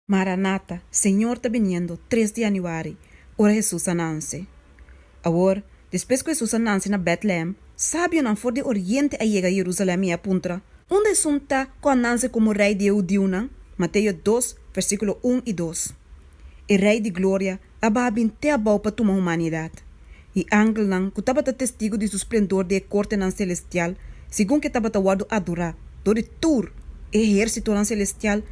Maranata, Señor ta biniendo, tres di Januari, ora Hesus a nanse. Awor, despues ku Hesus a nanse na Bètlehem, sabionan for di oriente a yega Jerusalèm i e a puntra, Unda esun ta ku a nanse komo Rei di e hudiunan? Mateo dos, versíkulo un i dos E Rei di gloria a baha bin te abou pa tuma humanidat. I angelnan ku tabata testigu di su splendor den e kortenan selestial, segun ke tabata wòrdu adorá dor di tur e ehérsitonan selestial,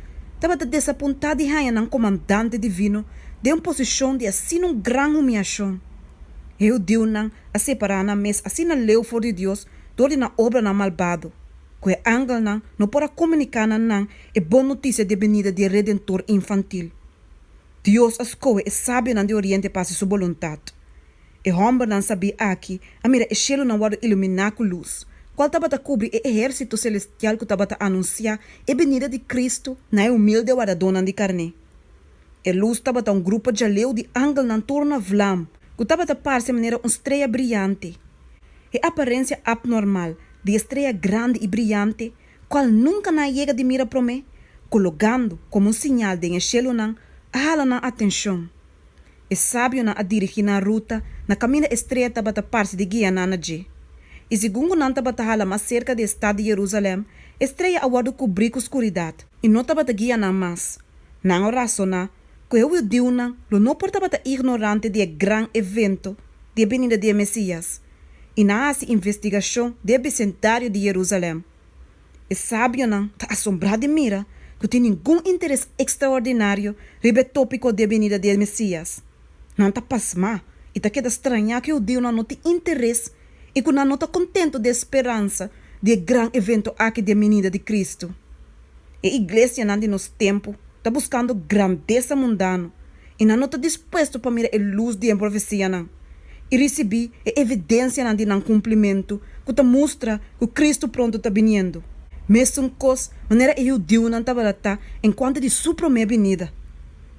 tabata desapuntá di haña nan komandante divino den un posishon di asina un gran humiashon. E hudiunan a separá nan mes asina leu for di Dios dor di nan obranan malbado, ku e angelnan no por a komuniká na nan e bon notisia di e binida di e Redentor infantil. Dios a scoge e sabionan di Oriente pa haci su boluntad. E hombernan sabí aki a mira e cielonan wordo iluminá cu luz, cual tabata cubri e ehercito celestial cu tabata anunciá e benida di Cristo na e humilde wardadónan di carné. E luz tabata un grupo djaleu di angelnan tur na vlam cu tabata parce manera un strea briyante. E aparencia abnormal di e strea grandi i briyante cual nunca nan a yega di mira prome, cologando como un siñal den e shelunan, a hala nan atencion. E sabionan a dirigi nan ruta na caminda estrecha tabata parce di guia nan na dje. Y segun cu nan tabata hala mas cerca di e stad di Jerusalem, e streya a wordo cubri cu scuridad, y no tabata guia nan mas, nan a razona cu e hudiunan lo no por tabata ignorante di e gran evento di e binida di e Mesias, i nan a hasi investigashon den e besendario di Yerusalèm. E sabionan ta asombrá di mira ku tin ningun interes ekstraordinario riba e tópiko di e benida di e Mesías. Nan ta pasmá i ta keda strañá ku e hudiunan no tin interes i ku nan no ta kontentu di e speransa di e gran eventu akí di e minida di Kristu. E iglesianan di nos tempu ta buskando grandesa mundano i nan no ta dispuesto pa mira e lus di e profesianan i risibí e evidensianan di nan kumplimentu ku ta mustra ku Kristu pronto ta biniendo, mesun kos manera e hudiunan tabata ta enkuanto di Su promé binida.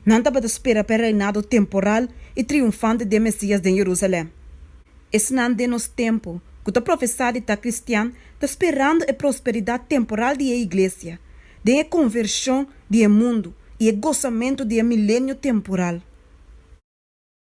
Nan tabata spera pa e reinado temporal i triunfante di e Mesías den Jerusalèm. Esnan den nos tempu ku ta profesá di ta kristian ta sperando e prosperidat temporal di e iglesia, den e konvershon di e mundu i e gosamentu di e milenio temporal.